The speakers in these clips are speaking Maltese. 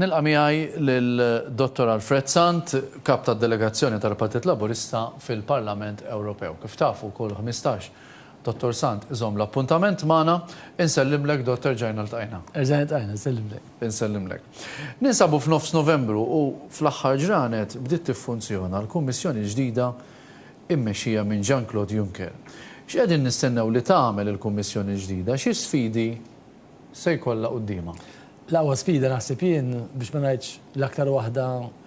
Nilqa' miegħi lil Dottor Alfred Sant, Kap tad-Delegazzjoni tal-Partit Laburista fil-Parlament Ewropew. Kif tafu, kull ħmistax Dottor Sant iżomm l-appuntament magħna. Insellimlek, Dott. Erġajna ltqajna. Erġajna ltqajna, nsellimlek. Insellimlek. Ninsabu f'nofs Novembru u fl-aħħar ġranet bdiet tiffunzjona l-Kummissjoni l-ġdida mmexxija minn Jean-Claude Juncker. X'qegħdin nistennew li tagħmel il-Kummissjoni l-ġdida? Xi sfidi se jkollha quddiemha? L-aqwa sfida naħseb jien, biex ma ngħidx l-aktar waħda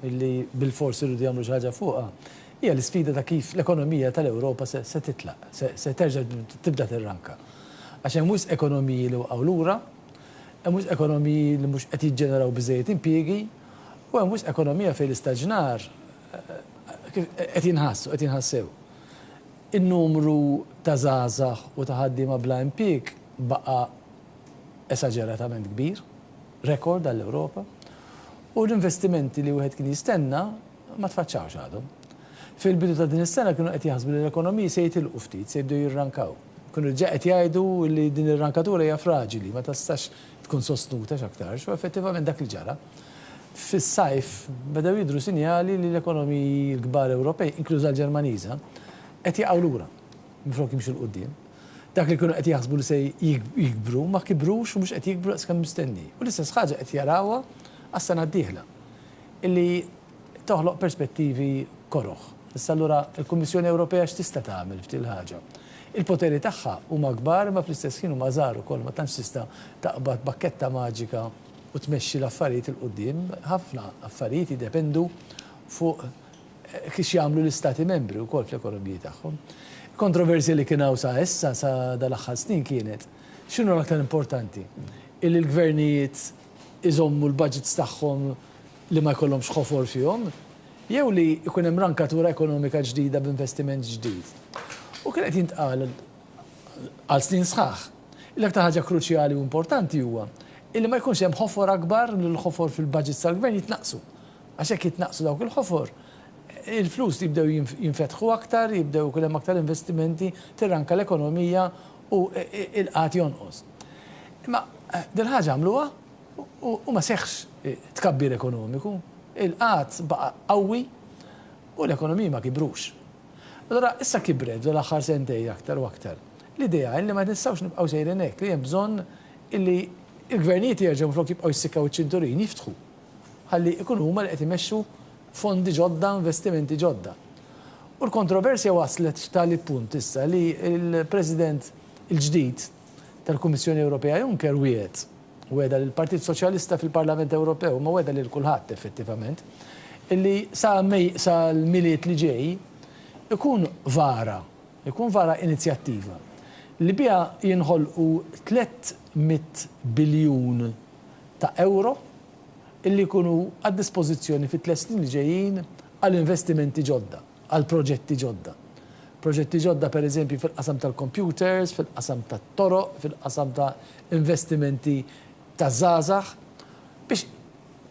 li bilfors irridu jagħmlu xi ħaġa fuqha, hija l-isfida ta' kif l-ekonomija tal-Ewropa se titlaq, se terġa' tibda tirranka. Għax hemm wisq ekonomiji li waqgħu lura, hemm wisq ekonomiji li mhux qed jiġġeneraw biżżejjed impjiegi, u hemm wisq ekonomija fejn l-istaġnar qed jinħass u qed jinħass sew. In-numru ta' żgħażagħ u ta' ħaddiema bla impieg baqa' esaġeratament kbir, rekord għall-Ewropa, u l-investimenti li wieħed kien jistenna ma tfaċċawx għadhom. Fil-bidu ta' din is-sena kienu qed jaħsbu li l-ekonomiji se jitilqu ftit, se jibdew jirrankaw. Kienu diġà qed jgħidu li din ir-rankatura hija fraġili, ma tistax tkun sostnuta x'aktarx, u effettivament dak li ġara. Fis-sajf bedew jidhru sinjali li l-ekonomiji l-kbar Ewropej, inkluża l-Ġermaniża, qed jaqgħu lura minflok jimxu 'l quddiem. Dak li kienu qed jaħsbu li se jikbru ma kibrux u mhux qed jikbru daqs kemm mistenni. U l-istess ħaġa qed jarawha għas-sena d-dieħla, li toħloq perspettivi koroh. Issa allura l-Kummissjoni Ewropea x'tista' tagħmel f'din il-ħaġa? Il-poteri tagħha huma kbar imma fl-istess ħin huma żgħar ukoll, ma tantx tista' taqbad b'pakketta maġika. u tmexxi l-affarijiet 'il quddiem, ħafna affarijiet jiddependu fuq x'jagħmlu l-Istati Membri wkoll fl-ekonomiji tagħhom. Il-kontroversja li kien hawn sa issa, sa dal-aħħar snin kienet x'inhu l-aktar importanti, illi l-gvernijiet iżommu l-budgets tagħhom li ma jkollhomx ħofor fihom, jew li jkun hemm rankatura ekonomika ġdida b'investiment ġdid. U kien qed jintqal, għal snin sħaħ. L-aktar ħaġa kruċjali u importanti huwa illi ma jkunx hemm ħofor akbar li l-ħofor fil-budgets tal-gvern jitnaqqsu. Għax jekk jitnaqqsu dawk il-ħofor, il-flus jibdew jinfetħu aktar, jibdew ikun hemm aktar investimenti, tirranka l-ekonomija u l-qgħad jonqos. Imma dil-ħaġa għamluha u ma seħħx tkabbir ekonomiku. Il-qgħad baqa' qawwi u l-ekonomiji ma kibrux. Allura issa kibret f'dawn l-aħħar sentejn aktar u aktar l-idea illi ma nistgħux nibqgħu sejrin hekk, li hemm bżonn illi l-gvernijiet jerġgħu minflok jibqgħu jissikkaw iċ-ċinturin, jiftħu ħalli jkunu huma li qed imexxu fondi ġodda, investimenti ġodda. U l-kontroversja waslet f'tali punt issa li l-President il-ġdid, tal-Kummissjoni Ewropea Juncker wiegħed, wegħda lill-Partit Soċjalista fil-Parlament Ewropew, imma wegħda lil kulħadd effettivament, illi sa May, sa l-Milied li ġej, ikun vara, ikun vara inizjattiva li biha jinħolqu tliet mitt biljun ta' ewro illi jkunu għad-dispożizzjoni fit-tliet snin li ġejjin għal investimenti ġodda. għal proġetti ġodda. Proġetti ġodda per eżempju fil-qasam tal-kompjuters, fil-qasam tat-toroq, fil-qasam ta' investimenti taż-żgħażagħ biex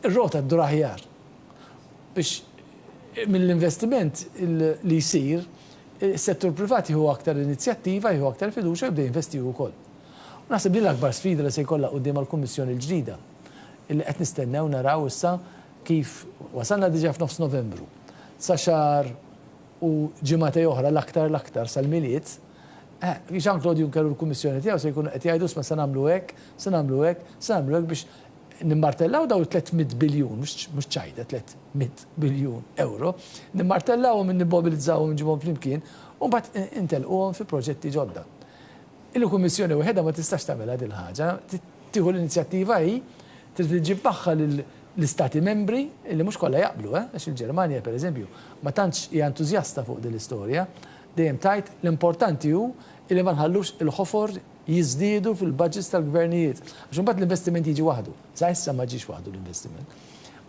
ir-rota ddur aħjar. Biex mill-investiment li jsir, is-settur privat jieħu aktar inizjattiva, jieħu aktar fiduċja u jibda jinvesti hu wkoll. U naħseb din l-akbar sfida li se jkollha quddiemha l-Kummissjoni l-ġdida, illi qed nistennew naraw issa Kif wasalna diġà f'nofs Novembru, sa xahar u ġimagħtej oħra l-aktar l-aktar sal-Milied, Jean-Claude Juncker u l-Kummissjoni tiegħu se jkunu qed jgħidu isma' se nagħmlu hekk, se nagħmlu hekk, se nagħmlu hekk biex nimmartellaw dawn it-tliet mitt biljun, mhux ċajta, tliet mitt biljun ewro, nimmartellawhom, immobbilizzawhom, inġibhom flimkien u mbagħad intelquhom fi proġetti ġodda. Il-Kummissjoni waħedha ma tistax tagħmilha din il-ħaġa, trid tieħu l-inizjattiva hi Trid iġġib magħha lill-Istati Membri, li mhux kollha jaqblu, eh, għax il-Ġermanja, per eżempju, ma tantx hija entużjasta fuq din l-istorja, dejjem tgħid l-importanti hu li ma nħallux il-ħofor jiżdiedu fil-budgets tal-gvernijiet, għax imbagħad l-investiment jiġi waħdu. Sa issa ma ġiex waħdu l-investiment.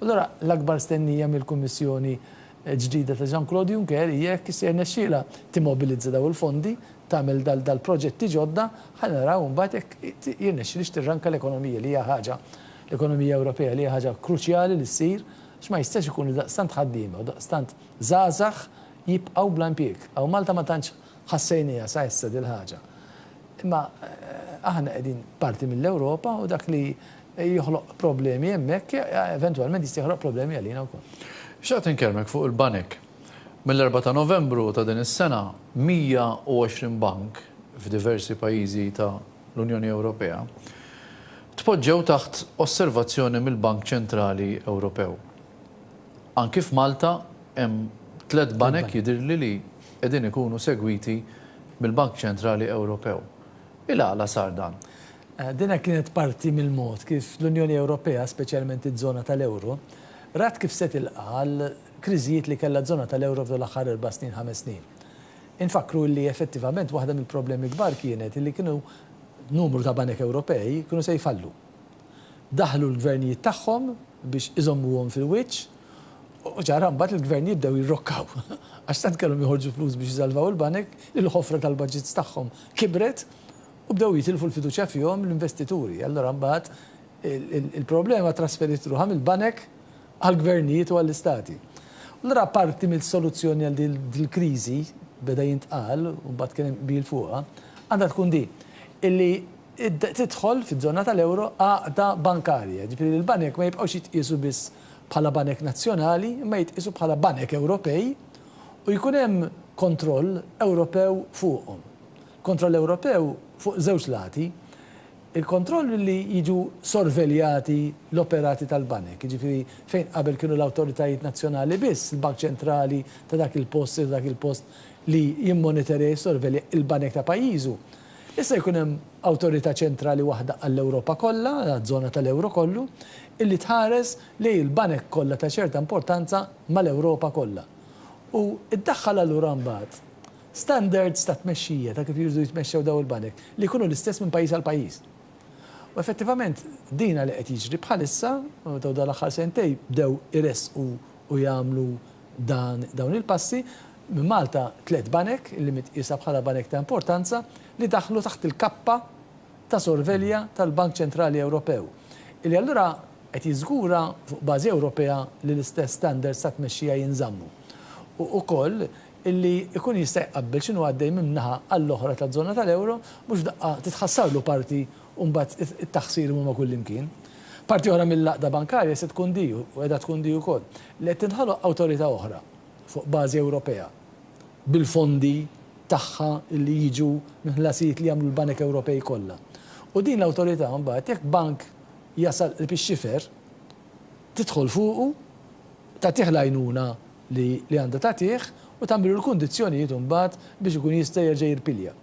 Allura l-akbar stennija mill-Kummissjoni ġdida ta' Jean-Claude Juncker hija jekk se jirnexxilha timmobilizza dawn il-fondi, tagħmel dal-proġetti ġodda, ħa naraw imbagħad jekk jirnexxilhiex tirranka l-ekonomija li hija ħaġa, l-ekonomija Ewropea li hija ħaġa kruċjali li ssir għax ma jistax ikun li daqstant ħaddiema u daqstant żgħażagħ jibqgħu bla impjieg. Hawn Malta ma tantx ħassejnieha sa issa dil-ħaġa. Imma aħna qegħdin parti mill-Ewropa u dak li joħloq problemi hemmhekk, eventwalment jista' joħloq problemi għalina wkoll. Xtaqt inkellmek fuq il-banek. Mill-Erbgħa ta' Novembru ta' din is-sena, 120 bank f'diversi pajjiżi ta' l-Unjoni Ewropea tpoġġew taħt osservazzjoni mill-Bank Ċentrali Ewropew. Anki f'Malta hemm tliet banek jidhirli li qegħdin ikunu segwiti mill-Bank Ċentrali Ewropew. Il-għala sar dan? Dinha kienet parti mill-mod kif l-Unjoni Ewropea, speċjalment iż-żona tal-euro, rat kif se tilqa' għal kriżijiet li kellha ż-żona tal-euro f'dawn l-aħħar erba' snin, ħames snin. Infakkru illi effettivament waħda mill-problemi kbar kienet illi kienu numru ta' banek Ewropej kienu se jfallu. Daħlu l-gvernijiet tagħhom biex iżommuhom fil-wiċċ u ċara mbagħad il-gvernijiet bdew jirrokkaw għax tant kellhom joħorġu flus biex isalvaw il-banek li l-ħofra tal-budgets tagħhom kibret u bdew jitilfu l-fiduċja fihom l-investituri. Allura mbagħad il-problema ttrasferiet ruħha mill-banek għall-gvernijiet u għall-istati. Allura parti mis-soluzzjoni għal din il-kriżi, beda jintqal u mbagħad kien hemm qbil fuqha, għandha tkun din, illi tidħol fiż-żona tal-euro għaqda bankarja, jiġifieri li l-banek ma jibqgħux jitqiesu biss bħala banek nazzjonali imma jitqiesu bħala banek Ewropej u jkun hemm kontroll Ewropew fuqhom. Kontroll Ewropew fuq żewġ lati, il-kontroll li jiġu sorveljati l-operati tal-banek, jiġifieri fejn qabel kienu l-awtoritajiet nazzjonali biss, il-bank ċentrali ta' dak il-post, ta' dak il-post li jimmoniterja, jissorvelja l-banek ta' pajjiżu, Issa jkun hemm awtorità ċentrali waħda għall-Ewropa kollha, għaż-żona tal-euro kollu, illi tħares lejn il-banek kollha ta' ċerta importanza mal-Ewropa kollha. U ddaħħal allura mbagħad standards ta' tmexxija ta' kif jridu jitmexxew dawn il-banek li jkunu l-istess minn pajjiż għal pajjiż. U effettivament din li qed jiġri bħalissa, dawn l-aħħar sentejn bdew iressqu u jagħmlu dan dawn il-passi, minn Malta tliet banek, li mitqiesa bħala banek ta' importanza, li daħlu taħt il-kappa ta' sorvelja tal-Bank Ċentrali Ewropew, li allura qed jiżgura fuq bażi Ewropea li l-istess standards ta' tmexxija jinżammu u ukoll li jkun jista' jqabbel x'inhu għaddej minn naħa għall-oħra taż-żona tal-euro, mhux f'daqqa titħassarlu parti u mbagħad it-taħsir imur ma' kullimkien. Parti oħra mill-għaqda bankarja se tkun di, u qiegħda tkun di wkoll, li qed tinħoloq awtorità oħra fuq bażi Ewropea, bil-fondi tagħha li jiġu minn ħlasijiet li jagħmlu l-banek Ewropej kollha. U din l-awtorità mbagħad jekk bank jasal qrib ix-xifer, tidħol fuqu, tagħtih l-għajnuna, li li għandha tagħtih u tagħmillu l-kundizzjonijiet imbagħad biex ikun jista' jerġa' jirpilja.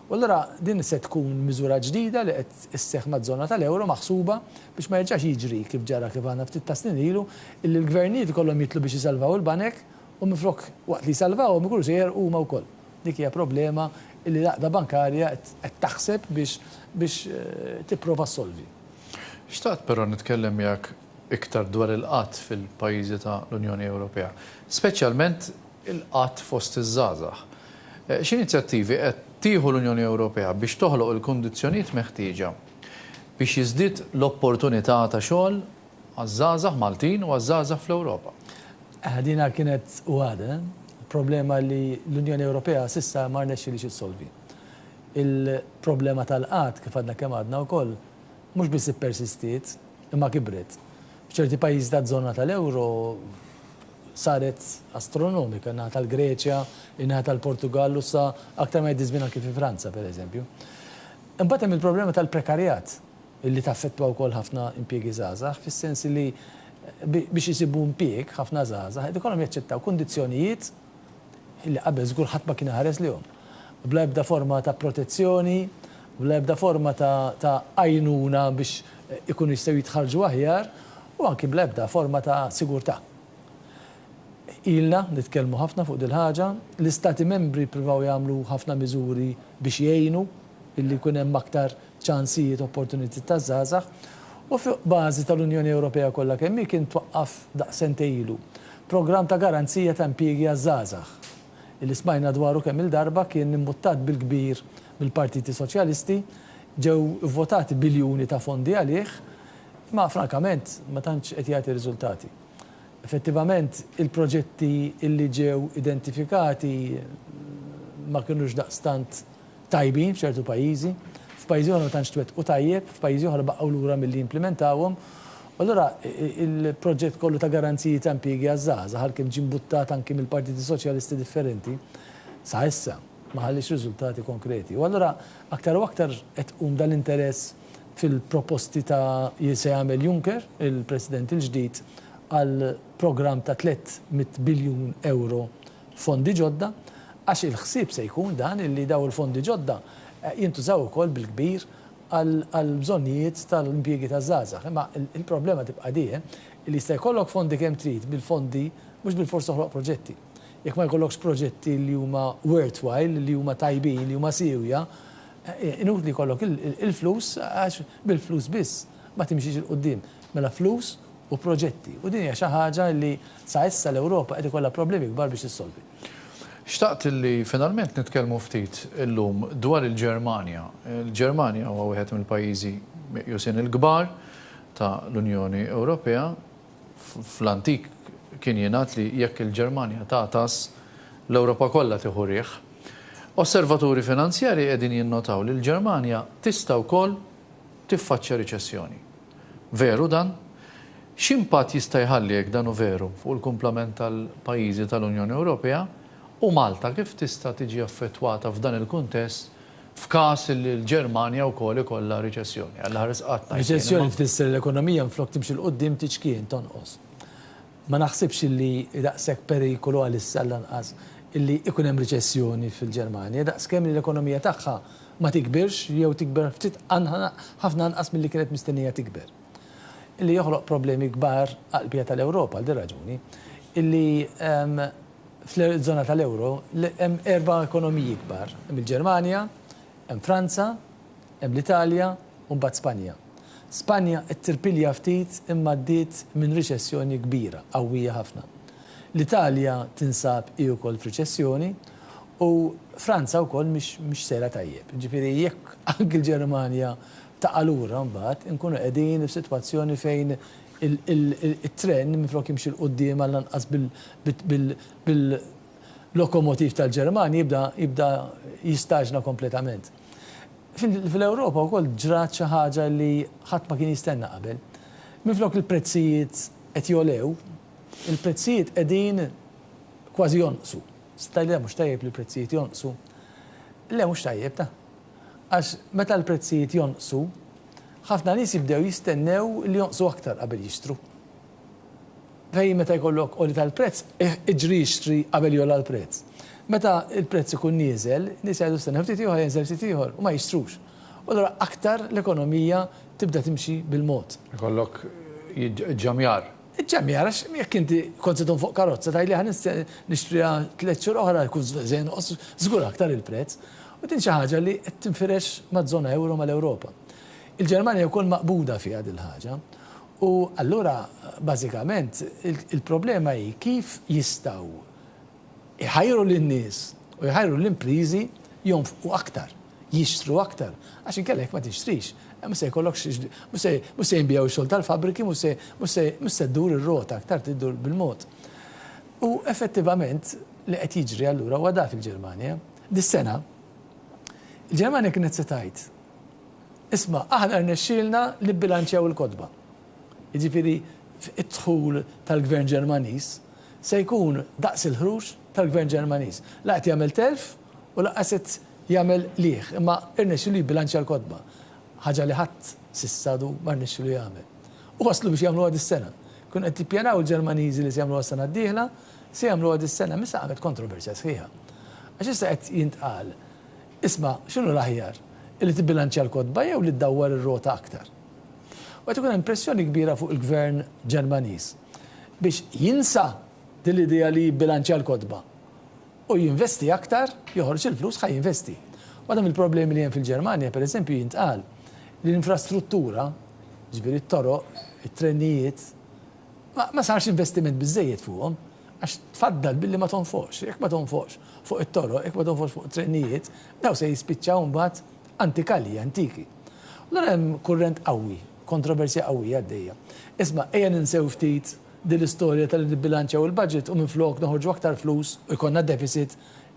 U allura din se tkun miżura ġdida li qed isseħħ maż-żona tal-euro maħsuba biex ma jerġax jiġri kif ġara kif għandna ftit ta' snin ilu illi l-gvernijiet ikollhom jitlu biex isalvaw il-banek u minflok waqt li jsalvawhom ikunu se jegħrqu huma wkoll. Dik hija problema illi l-Għaqda Bankarja qed taħseb biex biex tipprova ssolvi. Xtaqt però nitkellem miegħek iktar dwar il-qgħad fil-pajjiżi ta' l-Unjoni Ewropea, speċjalment il-qgħad fost iż-żgħażagħ. X'inizjattivi qed tieħu l-Unjoni Ewropea biex toħloq il-kundizzjonijiet meħtieġa biex jiżdied l-opportunità ta' xogħol għaż-żgħażagħ Maltin u għaż-żgħażagħ fl-Ewropa? Dina kienet u għadha problema li l-Unjoni Ewropea s'issa ma rnexxilhiex issolvi. Il-problema tal-qgħad, kif għadna kemm għadna wkoll, mhux biss ippersistiet, imma kibret. F'ċerti pajjiżi taż-żona tal-euro saret astronomika, in-naħa tal-Greċja, in-naħa tal-Portugall u sa aktar ma jgħaddi ż-żmien anki fi Franza, pereżempju. Imbagħad hemm il-problema tal-prekarjat li taffettwa wkoll ħafna impjiegi żgħażagħ, fis-sens li biex isibu impjieg ħafna żgħażagħ qed ikollhom jaċċettaw kundizzjonijiet li qabel żgur ħadd ma kien iħares lejhom. Bla ebda forma ta' protezzjoni, bla ebda forma ta' ta' għajnuna biex ikunu jistgħu jitħarrġu aħjar u anki bla ebda forma ta' sigurtà. Ilna nitkellmu ħafna fuq dil-ħaġa, l-Istati Membri ppruvaw jagħmlu ħafna miżuri biex jgħinu billi jkun hemm aktar ċansijiet, opportunitajiet taż-żgħażagħ u fuq bażi tal-Unjoni Ewropea kollha kemm hi kien twaqqaf daqs sentejn ilu programm ta' garanzija ta' impjiegi għaż-żgħażagħ li smajna dwaru kemm-il darba kien imbuttat bil-kbir mill-partiti soċjalisti, ġew ivvotati biljuni ta' fondi għalih imma frankament ma tantx qed jagħti riżultati. Effettivament il-proġetti li ġew identifikati ma kinux daqstant tajbin f'ċertu pajjiżi, f'pajjiżi oħra ma tantx twettqu tajjeb, f'pajjiżi oħra baqgħu lura milli jimplimentawhom. U allura il-proġett kollu ta' garanziji ta' impjiegi għaż-żgħażagħ għalkemm ġie mbuttat anki mill-partiti soċjalisti differenti, sa issa ma ħalliex riżultati konkreti. U allura aktar u aktar qed iqum dal-interess fil-proposti ta' li se jagħmel Juncker, il-President il-ġdid, għal programm ta' 300 biljun ewro fondi ġodda għax il-ħsieb se jkun dan illi dawn il-fondi ġodda jintużaw ukoll bil-kbir għall-bżonnijiet tal-impjiegi taż-żgħażagħ. Imma il-problema tibqa' di illi jista' jkollok fondi kemm trid bil-fondi mhux bilfors toħloq proġetti. Jekk ma jkollokx proġetti li huma worthwhile, li huma tajbin, li huma siewja, inutli jkollok il-flus għax bil-flus biss. ma timxix 'il quddiem mela flus u proġetti u din hija xi ħaġa li sa issa l-Ewropa qed ikollha problemi kbar biex issolvi. Xtaqt li finalment nitkellmu ftit illum dwar il-Ġermanja. Il-Ġermanja huwa wieħed mill-pajjiżi meqjusin il-kbar ta' l-Unjoni Ewropea. Fl-antik kien jingħad li jekk il-Ġermanja tagħtas, l-Ewropa kollha tieħu riħ. Osservaturi finanzjarji qegħdin jinnotaw li l-Ġermanja tista' wkoll tiffaċċja riċessjoni. Veru dan? X'impatt jista' jħalli, jekk dan hu veru, fuq il-kumplament tal-pajjiżi tal-Unjoni Ewropea, u Malta kif tista' tiġi affettwata f'dan il-kuntest f'każ li l-Ġermanja wkoll ikollha riċessjoni? Għall-aħħar stqarrt ngħid jien, imma. Riċessjoni tfisser li l-ekonomija minflok timxi 'l quddiem tiċkien, tonqos. Ma naħsibx illi hi daqshekk perikolu għalissa għallanqas illi ikun hemm riċessjoni fil-Ġermanja daqskemm li l-ekonomija tagħha ma tikbirx jew tikber ftit ħafna anqas milli kienet mistennija tikber. Illi joħloq problemi kbar għall-qbija tal-Ewropa għal din raġuni illi fl-żona tal-euro hemm erba' ekonomiji kbar. Hemm il-Ġermanja, hemm Franza, Hemm l-Italja u mbagħad Spanja. Spanja qed tirpilja ftit imma għaddiet minn riċessjoni kbira, qawwija ħafna. L-Italja tinsab hi wkoll f'riċessjoni u Franza wkoll mhix mhix sejra tajjeb. Jiġifieri jekk anki l-Ġermanja taqa' lura mbagħad inkunu qegħdin f'sitwazzjoni fejn it-tren minflok jimxi 'l quddiem għallanqas bil-lokomotiv tal-Ġermanja jibda jibda jistaġna kompletament. Fl-Ewropa wkoll ġrat xi ħaġa li ħadd ma kien jistenna qabel. Minflok il-prezzijiet qed jogħlew, il-prezzijiet qegħdin kważi jonqsu. Se tgħidli le mhux tajjeb li l-prezzijiet jonqsu. Le mhux tajjeb ta'. Għax meta l-prezzijiet jonqsu, ħafna nies jibdew jistennew li jonqsu aktar qabel jixtru. Fejn meta jkollok għoli tal-prezz, iġri ixtri qabel jogħla l-prezz. Meta l-prezz ikun nieżel, nies jgħidu stennew ftit ieħor, jenżel ftit ieħor u ma jixtrux. U allura aktar l-ekonomija tibda timxi bil-mod. Ikollok iġġamjar. Iġġamjar għax jekk inti kont se tgħum fuq karozza tgħid li ħa nixtriha tliet xhur oħra jkun se jonqos żgur aktar il-prezz. U din xi ħaġa li qed tinfirex maż-żona ewro mal-Ewropa. Il-Ġermanja wkoll maqbuda fiha din il-ħaġa. U allura bażikament il-problema hi kif jistgħu jħajru lin-nies u jħajru l-impriżi jonfqu aktar, jixtru aktar, għax inkella jekk ma tixtrix, mhux se jkollok mhux se jinbiegħu x-xogħol tal-fabbriki, mhux se ddur ir-rota aktar tiddur bil-mod. U effettivament li qed jiġri allura huwa dak il-Ġermanja. Dis-sena il-Ġermanja kienet se tgħid, Isma', aħna rnexxielna nibbilanċjaw il-kotba. Jiġifieri d-dħul tal-Gvern Ġermaniż se jkun daqs il-ħruġ tal-Gvern Ġermaniż. La qed jagħmel telf u lanqas qed jagħmel qligħ, imma rnexxielu jibbilanċja l-kotba. Ħaġa li ħadd s'issa għadu ma rnexxielu jagħmel. U waslu biex jagħmluha dis-sena. Kienu qed jippjanaw il-Ġermaniżi li se jagħmluha s-sena d-dieħla, se jagħmluha dis-sena, imma issa qamet kontroversja sħiħa. Għax issa qed jintqal Isma', x'inhu l-aħjar? Illi tibbilanċja l-kotba jew li ddawwar ir-rota aktar? U qed ikun hemm pressjoni kbira fuq il-Gvern Ġermaniż biex jinsa din l-idea li jibbilanċja l-kotba u jinvesti aktar, joħroġ il-flus ħa jinvesti. Waħda mill-problemi li hemm fil-Ġermanja, pereżempju, jintqal li l-infrastruttura, jiġifieri t-toroq, it-trenijiet, ma sarx investiment biżżejjed fuqhom għax tfaddal billi ma tonfoqx. Jekk ma tonfoqx fuq it-toroq, jekk ma tonfoqx fuq trenijiet, dawn se jispiċċaw imbagħad antikalji, antiki. Allura hemm kurrent qawwi, kontroversja qawwija għaddejja. Isma', ejja ninsew ftit din l-istorja ta' li nibbilanċjaw il-budget u minflok noħorġu aktar flus u jkollna deficit,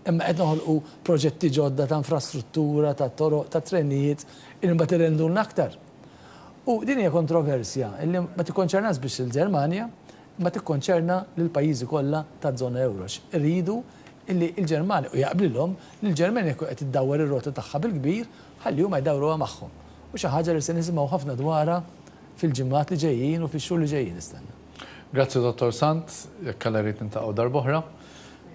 imma qed noħolqu proġetti ġodda ta' infrastruttura, ta' toroq, ta' trenijiet, illi mbagħad irendulna aktar. U din hija kontroversja illi ma tikkonċernax biss il-Ġermanja, ma tikkonċerna lill-pajjiżi kollha taż-żona euro għax iridu li l-Ġermanja, u jaqblilhom, li l-Ġermanja tkun qed iddawwar ir-rota tagħha bil-kbir ħalli huma jdawruha magħhom. U xi ħaġa li se nisimgħu ħafna dwarha fil-ġimgħat li ġejjin u fix-xhur li ġejjin nistenna. Grazzi Dottor Sant, jekk Alla jrid niltaqgħu darb'oħra.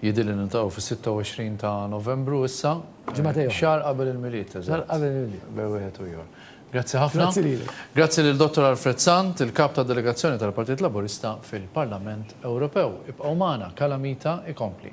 Jidhirli niltaqgħu fis-26 ta' Novembru issa. Ġimagħtej oħra. Xahar qabel il-Milied, eżatt. Xahar qabel il-Milied. Bejn wieħed u ieħor. Grazzi ħafna. Grazzi lilek. Grazzi lil Dottor Alfred Sant, il-Kap tad-Delegazzjoni tal-Partit Laburista fil-Parlament Ewropew. Ibqgħu magħna, Calamita ikompli.